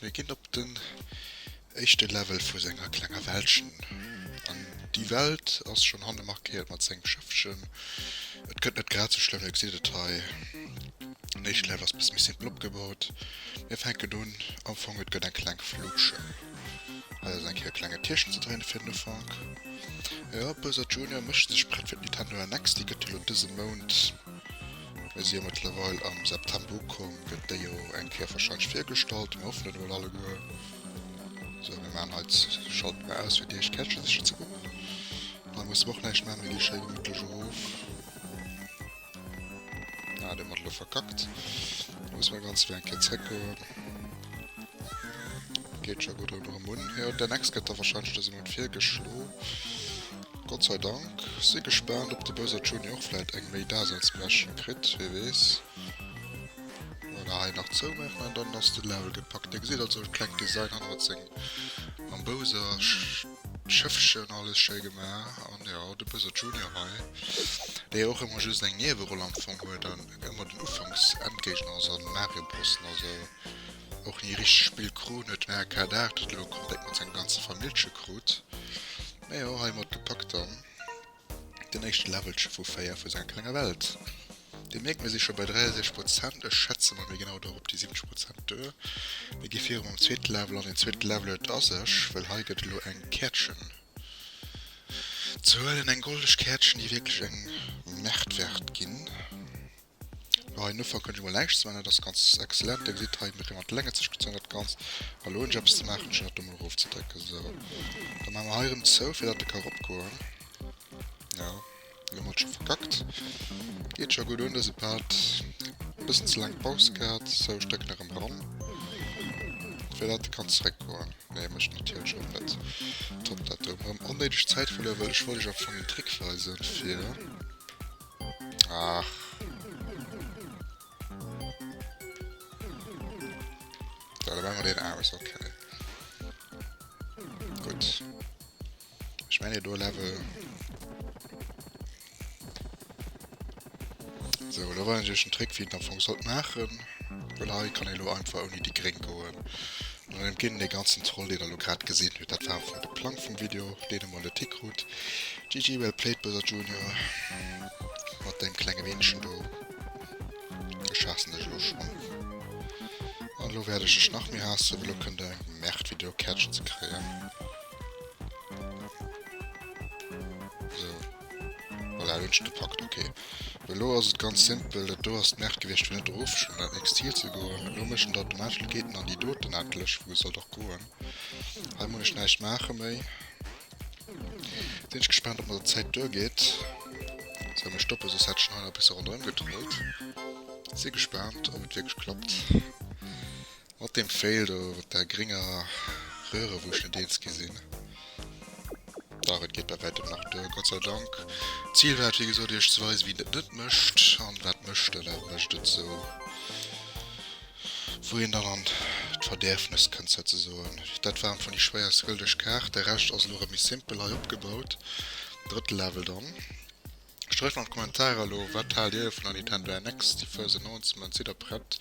Mir ginn op den éischte Level vu senger klenger Wäldchen an déi Welt ass schonn hanne markéiert mat sengem Schëffchen. Et gëtt net grad sou schlëmm, dir gesitt et hei, den éischte Level ass e bësse méi simpel opgebaut. Mir fänken un, am Fong et gëtt eng kleng Fluche, hei ass eng Kéier e klenge Tierchen ze dréine fir den Ufank. Jo, Bowser Junior mécht sech prett fir d'Nintendo NX, déi gëtt elo dëse Mount. Mir si jo mëttlerweil am September ukomm, gëtt déi jo eng Kéier wahrscheinlech virgestallt. Mir hoffen et emol alleguer. Sou, mir maachen hei, schalten mer aus fir déi éischt Käertche siche ze goen. Hei musse mer och näischt maachen, mir gi schéi gemittlech erof. Ah, deen huet elo verkackt. Da musse mer ganz ewéi eng Kéier zréckgoen. Geet scho gutt erëm un. Jo, den Next gëtt da wahrscheinlech dëse Mount virgeschlo. Gott sei Dank. Si gespaant op de Bowser Junior och vläit eng méi Daseinsberechtegung kritt, wee weess. Voilà, hei nach zoumaachen an dann ass de Level gepackt. Dir gesitt also e klengt Design hannert seng mam Bowser Schëffchen, alles schéi gemaach. An jo, de Bowser Junior hei, dee jo och ëmmer just eng Nieweroll am Fong huet an ëmmer den Ufanks Endgéigner ass an Mario Brossen also och ni richteg spillt krut, huet den Arcade 8 et elo komplett mat senger ganzer Famillche krut. Majo hei mat gepackt dann den éischte Levelche vu 4 vu senger klenger Welt. Dir mierkt mir si scho bei 63 Prozent, ech schätze mol mir ginn haut och op déi 70 Prozent duer. Mir gi viru mam zweete Level an deen zweete Level huet a sech, well hei gëtt et elo eng Käertchen ze huelen, eng goldeg Käertchen déi wierklech eng Märtwert ginn. Elo hei noffer kënnt ech mol näischt ze man, dat ass ganz excellent. Dir gesitt hei mat de Länge zescht gezunn dat Ganzt. Well elo hunn ech eppes ze maachen, ech hunn dat do mol erof ze drécken. Sou, da maache mer hei erëm zou, fir datt e ka eropgoen. Jo, elo hu mer et scho verkackt. Geet scho gutt un dëse Part. E bëssen ze laang Paus gehat. Sou, ech drécken erëm dran, fir datt e kann zeréckgoen. Nee, mécht en natierlech och net. Top, dat do hu mer erëm onnéideg Zäit verluer, well ech wollt iech am Fong en Trick weisen, fir. Ach. Da machen wir den aus, okay. Gut. Ich meine, du Level. So, da war natürlich ein Trick, wie ich nach Funk sollte machen. Weil hier kann ich nur einfach ohne die Gring gehen. An et ginn de ganzen Troll deen der lo grad gesinn hutt. Dat war einfach net de Plang vum Video deen emol de Tick krut. GG well played Bowser Junior mat dengem klenge Weenchen do. Ech haassen dech elo schonn an elo wäert ech dech nach méi haassen well elo kënnt der eng Merd fir do Käerchen ze kréien. Sou. Voilà, elo hunn ech gepackt, ok. Elo ass et ganz simpel, dat do ass d'Merk gewiescht fir net erof schonn dat nächst Ziel ze goen. Elo mécht en automatesch, elo geet en an déi doten endlech, wou e sollt och goen. Hei muss ech näischt maache méi. Sinn ech gespaant ob mer der Zäit duergeet. Sou, mir stoppen, soss hätt ech nach nach e bësse ronderëm gedréit. Si gespaant ob et wierklech klappt. Mat deem Fail do mat der grénger Röhre wou ech net eens gi sin. Dach et geet bei wäitem nach duer, Gott sei Dank. D'Zil war et wéi gesot iech ze weisen wéi een et net mécht an wat mécht en, wat mécht et sou wou een dann an d'Verdäerfnes kënnt souzesoen. Dat war am Fong déi schwéierst gëldeg Kaart, de Rescht ass elo erëm méi simpel hei opgebaut. Drëtte Level dann. Streift an d'Kommentarer elo, wat haalt dir vun der Nintendo NX? Déi first announcement, sidd der prett?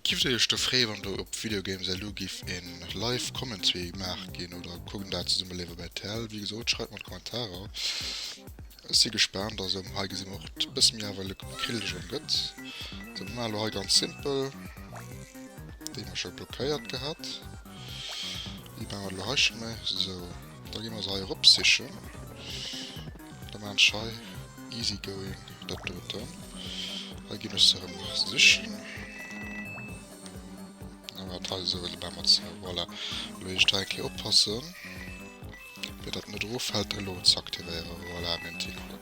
Giff dir iech do frée wann do op Video Games elu giff een live Commentary gemaach ginn oder kuckt een dat zesummen live op rtl? Wéi gesoot schreift mer an d'Kommentarer, ech si gespaant. Also hei gesi mer och e bësse méi awer e Krilldeg an gëtt. Also mer maachen elo hei ganz simpel, déi hun ech jo blockéiert gehat, déi maachen mer elo hei scho méi, sou. Da gi mer se hei erop sichen. Da man schei easy going dat doten. Da ginn ech se rem sichen. Awer teil eso wëlle bei mat ze. Voilà. Lo ech da enke oppassen. Fir dat net erof fällt elo ze aktivéieren. Voilà meng Tickle.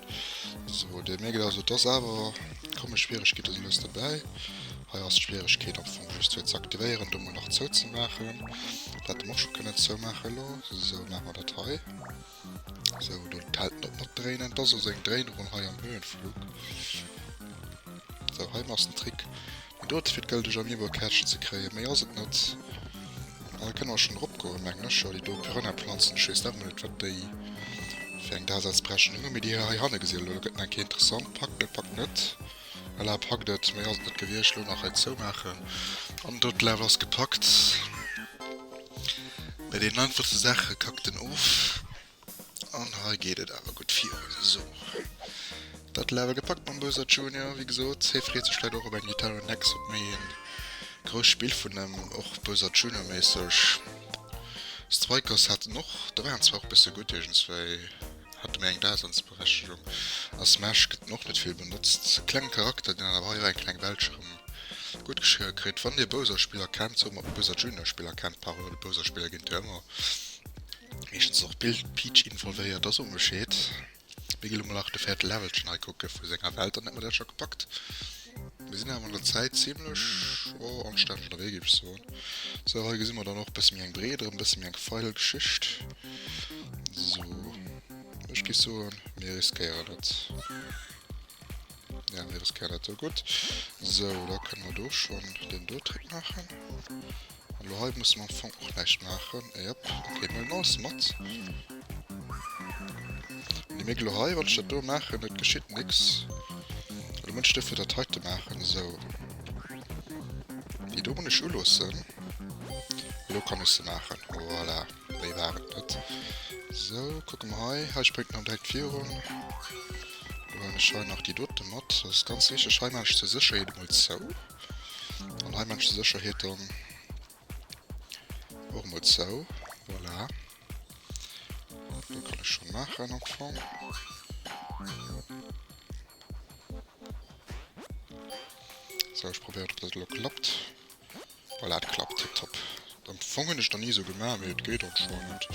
So, Dir mierkt also et ass awer. Komme Schwieregkeete si lues dobäi. Hei ass d'Schwieregkeet am Fong just fir z'aktivéieren do mol nach zou ze maachen. Dat hätte mer och scho kënnen zou maachen elo. Sou maache mer dat hei. Sou do d'Held net mat dréinen. Et ass also eng Dréinerun hei am Höhenflug. Sou hei ass den Trick deen dote fir d'gëlldeg am Niveau Käertchen ze kréien. Méi ass et net. An da kënne mer schonn erop goen mengen ech. Jo déi do Pyrenäe Planzen, ech weess nach ëmmer net wat déi fir eng Daseinsberechnung hunn. Mee déi hei hanne gesi elo, do gëtt nach eng Kéier interessant. Packt net, packt net. Voilà, packt et, méi ass et net gewiescht. Lo nach hei zoumaachen an do d'Level ass gepackt. Bei den einfachste Saache kackt en of an hei geet et awer gutt virun. Sou, dat d'Level gepackt mam Bowser Junior. Wéi gesot, hie freet sech vläit och op eng Gitarre Next, op méi ee grousst Spill vun hëm, och Bowser Junior-méisseg. Strikers hat en och, do war en zwar och e bësse gutt iergendswéi. Hat mir eng Daseinsberechtegung. A Smash gëtt en och net vill benotzt. Kleng Charakter deen awer hei och eng kleng Weltsch erëm gutt geschriwwe kritt. Wann dir Bowser Spiller kennt, sou mer ob Bowser Junior Spiller kennt, Parole Bowser Spiller ginn jo ëmmer meeschtens och Peach involvéiert, da soe Bescheed. Mir gi lo mol nach de véierte Levelchen hei kucke vu senger Welt, dann hätte mer dat scho gepackt. Mir sinn awer an der Zäit zimlech am Stad vun der Wee géif ech soen. Sou hei gesi mer dann och bësse méi eng breet erëm bësse méi eng feil Geschicht. So Ech gi soen mir riskéieren et. Ja mir riskéieren et gutt. Sou da kënne mer do schonn den do Trick maachen. Hallo, hei musse mer am Fong och näischt maachen. Jep, ok, mir hunn alles mat. Déi Migel lo hei, wann ech dat do maachen, et geschitt nix. Lo muss ech duerfir dat heite maachen, esou. Déi do muss ech uloossen. Lo kann ech se maachen, voilà. Méi war et net. Esou, kucke mer hei, hei spréngt en direkt virun. Lo hunn ech hei nach déi dote mat, dat ass ganz richteg. Hei maachen ech zur Sécherheet emol zou. An hei mënsch se Sécherheet dann och mol zou. Voilà. Do kann ech schon machen am Fong. So, ich probiere, ob das lo klappt. Voilà, et klappt. Tipptopp. Am Fong hun ech der ni sou gemach, mee et geet anscheinend.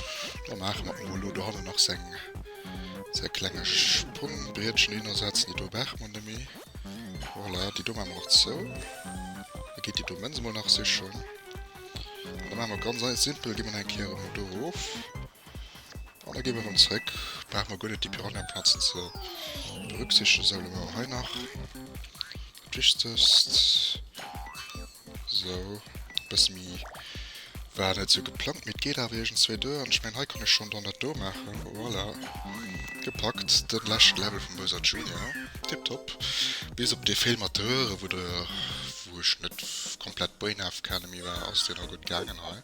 Da maache mer emol elo dohannen nach seng säi klenge Sprungbrietchen hin a setzen déi do weg. Mon Ami, voilà, déi do maache mer nach zou. Da geet déi do Mënz emol nach sichen. An da maache mer ganz ei simpel, gi mer nach eng Kéier emol do erof. An da gi mer erëm zréck. Brauche mer guer net déi Piranhaplazen ze berücksichtegen. Soule mer hei nach dat Wichtegst. So, bësse méi war net sou geplangt, mee et geet awer iergendzwou duer an ech mengen, hei kann ech schonn dann dat do maachen. Voilà, gepackt, de leschte Level vum Bowser Junior. Tiptop. Bis op dee Fail mat de Röhre, wou de, wou ech net komplett brainhaft kenne méi war, ass deen nach gutt gaangen hei.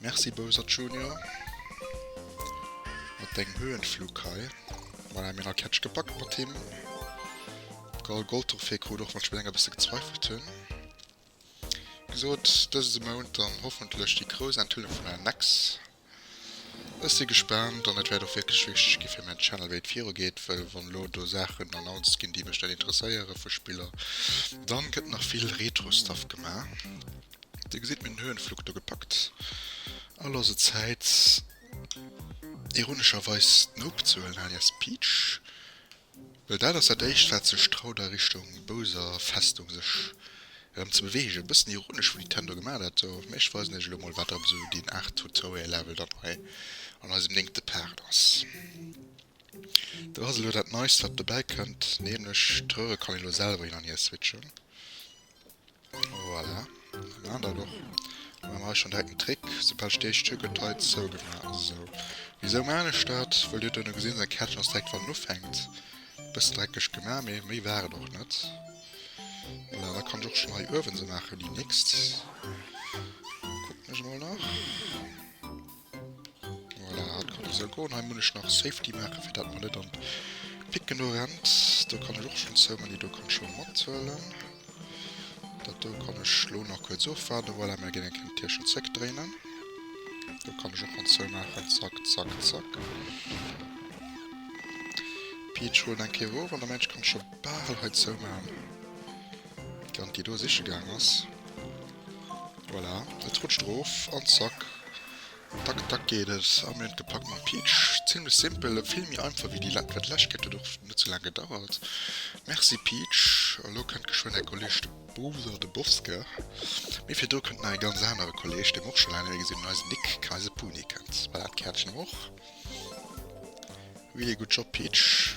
Merci Bowser Junior, mat dengem Höhenflug hei. Voilà, mir hunn all Catch gepackt mat him. Carl Goldtorfé krut och mat Spilleng e bësse gezweifelt. Hien gesot, dëse Mount dann hoffentlech déi grouss Enthüllung vun der NEC. Ech si gespaant an et wäert och wierklech wichteg gi fir mäin Channel wéi et viru geet, well wann elo do Saachen announced ginn déi mech net interesséiere vu Spiller, dann gëtt nach vill Retro Stuff gemaach. Dir gesitt mir den Höhenflug do gepackt a loosse Zäit ironescherweis d'Nope ze huelen alias Peach Well dat ass dat éischt wat sech traut a Richtung bouser Festung sech erëm ze beweegen. E bëssen ironesch wou Nintendo gemat hat do, mä ech weisen iech elo mol wat erëm esou deen Art Tutorial Level dann hei an eisem néngte Part ass. Do ass elo dat neist wat dobäi kënnt, nämlech d'Röhre kann een elo selwer hin an hier switchen. Voilà. Na, da doch. Dann machen wir schon direkt einen Trick. Sobald steht, Stück und Teil so gemacht. So. Wieso mache ich das? Weil du dann gesehen hast, Kärtchen aus direkt von anfängt. Bisschen dreckig gemacht, aber mehr war doch nicht. Voilà, da kann ich auch schon mal Öfen so machen, die nächste. Gucken wir mal nach. Voilà, dat kann esou goen. Hei muss ech nach Safety maachen, fir dat mer net an d'Picken do rennt. Do kann ech och schonn zou man, déi do kann scho matzuelen. Dat do kann ech lo nach kuerz ofwaarden. Voilà, mir ginn eng kéng d'Tierchen zréckdréinen. Do kann ech och schonn zou maachen. Zack, zack, zack. D'Peach huelen eng Kéier erof an da mengen ech, kann ech scho bal hei zou man. Kand déi do siche gaang ass. Voilà, et rutscht erof an de Sack. Dack dack geet et a mir hunn et gepackt mam Peach. Zimlech simpel, vill méi einfach wéi déi Lä wat lech gëtt huet och net sou laang gedauert. Merci Peach. A lo kënnt geschwënn är Kolleeg de Bowser de Bosker. Mee virdru kënnt nach ee ganz anere Kolleeg, dee mer och scho laang net méi gesinn hunn, eisen Nick Kayse Puni kënnt. Voilà, d'Käertchen och. Really good job Peach.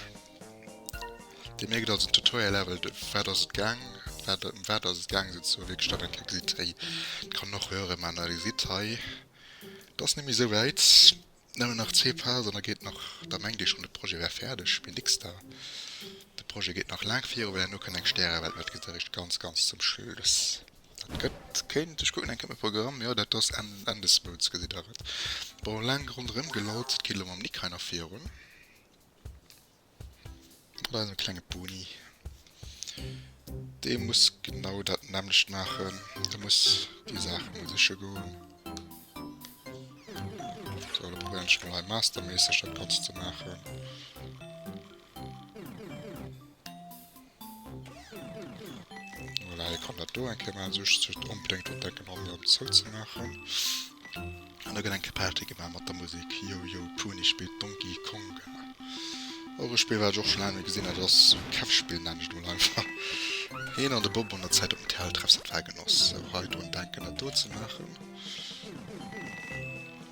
Dir mierkt also den Tutorial level, ëm wat ass et gaang, wat ëm wat ass et gaang sou ze soen, wierklech dat eng kéier gesitt, héi, dat kann een och héieren, mä na, Dir sitt hei, et ass net méi esou wäit, nëmmen nach zwee Phasen an da geet nach, da mengt ee schonn de Projet wär fäerdeg, mee nix da, de Projet geet nach laang virun, well herno kënnt eng Stäreewelt, mä dat gesitt Der eréischt ganz ganz zum Schluss. Dat gëtt, kéint, ech kucken eng Kéier op de Programm, jo dat ass Enn, Enn des Mounts gesitt Der et. Bon, laang ronderëm gelaut, et geet elo mam Nick hei nach virun. Oder eise klenge Boni. Dee muss genau dat nämmlecht maachen. De muss déi Saache mol siche goen. So, da probéieren ech mol hei masterméisseg dat Ganzt ze maachen. Voilà, hie kann dat do eng Kéier maachen, sech just onbedéngt dran denken, all erëm zouzemaachen. An da gëtt eng Kéier Party gemaach mat der Musek Yo Yo Puni spillt Donkey Kong. Och e Spill, wat ech och scho laang net méi gesinn hat. Et ass e Kämpfspill, nennen ech et mol einfach. Hien an de Bob hunn der Zäit op dem Terrell-Treffsite war, genoss och hei drun denken, dat do ze maachen.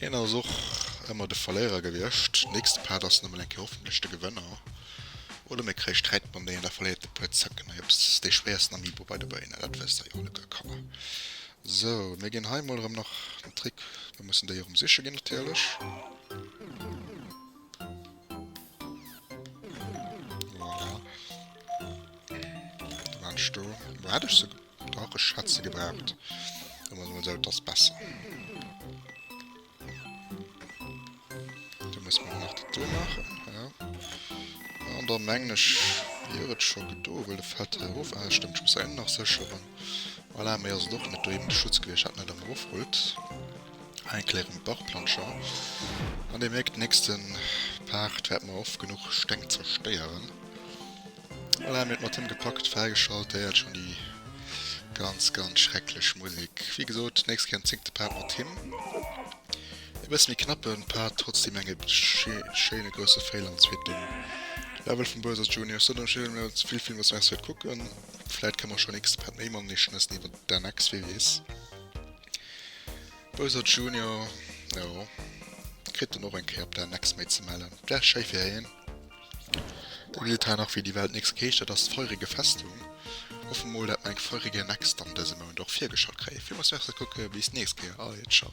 Hien ass och ëmmer de Verléierer gewiescht. Nächste Part ass nëmmen eng Kéier hoffentlech de Gewënner. Oder mir kréie Sträit mam Daniel, da verléiert e puer Zëcken. Hei ass dee schwéiersten Amiibo bei de Béinen, dat wësst der jo alleguer, Kanner. Sou, mir ginn hei emol erëm nach den Trick, mir mussen déi erëm siche ginn natierlech. Voilà. Wou hat ech se? Ach, ech hätt se gebraucht. Soen wir mal so, das ist besser. Da muss man nach das do machen. Ja. Und dann meng ich, wäre es schon do, weil der fällt der auf. Ah, stimmt, ich muss einen nach sichern. Voilà, mir ist doch nicht da eben der Schutz gewesen, hat nicht am Rufrut. Ein kleinen Bachplanscher. Und ihr merkt, nächsten Part werden wir oft genug Steng zerstören. Voilà, mir et mat him gepackt, fräigeschalt, déi hat schon déi ganz ganz schrecklech Musik. Wéi gesot, nächst Kéier en zéngte Part mat him. E bësse méi knappen Part, trotzdem eng schéine grousse Fail am zweeten Level vum Bowser Jr. Sot ech elo net vill, villmols merci fir d'Kucken, vläit kann mer schon nächste Part méi mam Née schnëssen iwwert d'NX, wee weess. Bowser Jr. jo, kritt en och eng Kéier op d'NX méi ze mellen, wär schéi fir hien. Dir gesitt hei nach wéi déi Welt Nix heescht, dat ass d'feurege Festung. Hoffe mol dat mer eng feurege Next dann dëse Mount och virgeschalt kréien. Villmools Merci a kucke bis d'nächst Kéier. Ahoi, ciao.